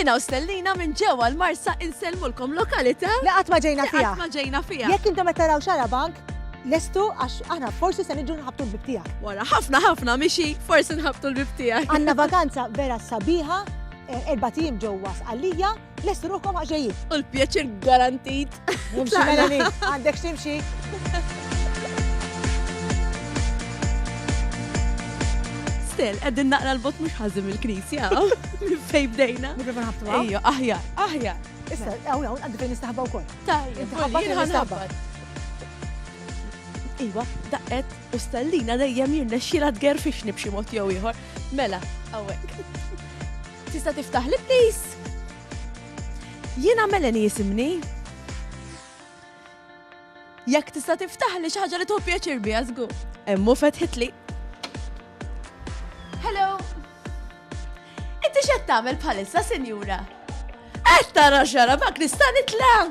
Jiena u Stellina minn ġewwa l-Marsa insellmulkom lokalità li qatt ma ġejna fiha. Ma ġejna fiha. Jekk intom qed taraw xara bank, lestu għax aħna forsi se niġu nħabtu l-bib tiegħek. Wara ħafna ħafna mixi forsi nħabtu l-bib tiegħek. Għandna vakanza vera sabiħa, eh, erba' tim ġewwa sqallija, Lestu ruħkom għaxejjin. U l-pjaċir garantit. Nimxi Melanie, għandek ximxi. Stel, għeddin naqra l-bot mux ħazim il-knisja, minn fej bdejna. Nibru nħabtu għaw. Ejjo, aħja, aħja. Issa, għaw, għaw, għandu fejn nistaħba u koll. Tajja, għaw, nistaħba. Iwa, daqqet u stellina dejjem jirnexxila tgerfixni b'xi mod jew ieħor. Mela, hawnhekk. Tista' tiftaħ li please? Jiena Melanie jisimni. Jekk tista' tiftaħ li xi ħaġa li tuħu pjaċir biha żgur. Emmu fetħitli. Hello. Inti x'qed tagħmel bħalissa, sinjura? Qed tara xara mak nista' nitla'.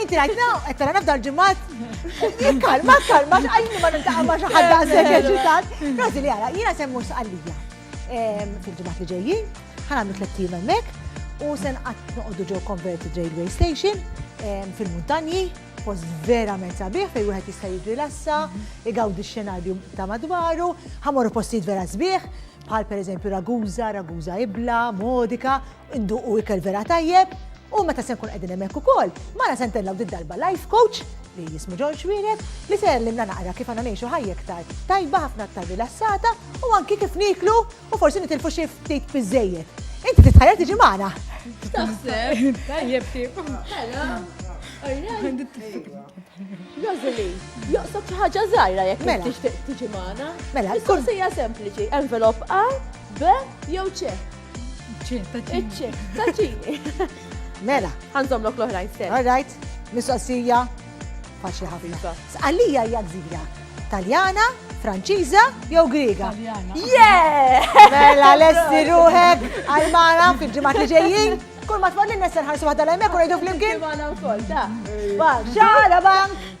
Inti rajtna, qed tara nafda l-ġimgħat. Kalma, kalma, għajni ma nintaqa' ma' xi ħadd daqshekk eċitat. Rosi li għala, jiena semmu sqallija. Ehm, Fil-ġimgħat li ġejjin, ħanamlu tliet ijiem hemmhekk u se nqatt noqogħdu ġew Converted Railway Station ehm, fil-muntanji, post verament sabiħ fejn wieħed jista' jirrilassa, igawdi x-xenarju ta' madwaru, ħamorru postijiet vera sbieħ, bħal per eżempju Raguza, Raguza Ibla, Modika, Induqu ikel vera tajjeb u meta se nkun qegħdin hemmhekk ukoll, mara se ntellgħu did-darba life coach li jismu George Wienet li se jgħallimna naqra kif għandna ngħixu ħajja iktar tajba, ħafna aktar rilassata u anki kif niklu u forsi nitilfu xi ftit biżejjed. Inti titħajjar tiġi magħna. Taħseb? Tajjeb tip. Rosali, joqsok xi ħaġa żgħira jekk mela. tixtieq tiġi magħna. Mela, kull sejja sempliċi, envelop A, B jew C. Iċ-ċip, taċini. Mela. Għanżom lok l-oħrajn stess. All right, mistoqsija faċli ħafna. Għalija hija gżira. Taljana, Franċiża jew Griega. Yeah! Mela lesti ruħek għal mara fil-ġimgħat li ġejjin. Kull ma tmorni nesser ħarsu ħadda l-hemmhekk u ngħidu flimkien. Ġimgħana wkoll, ta. Xara bank!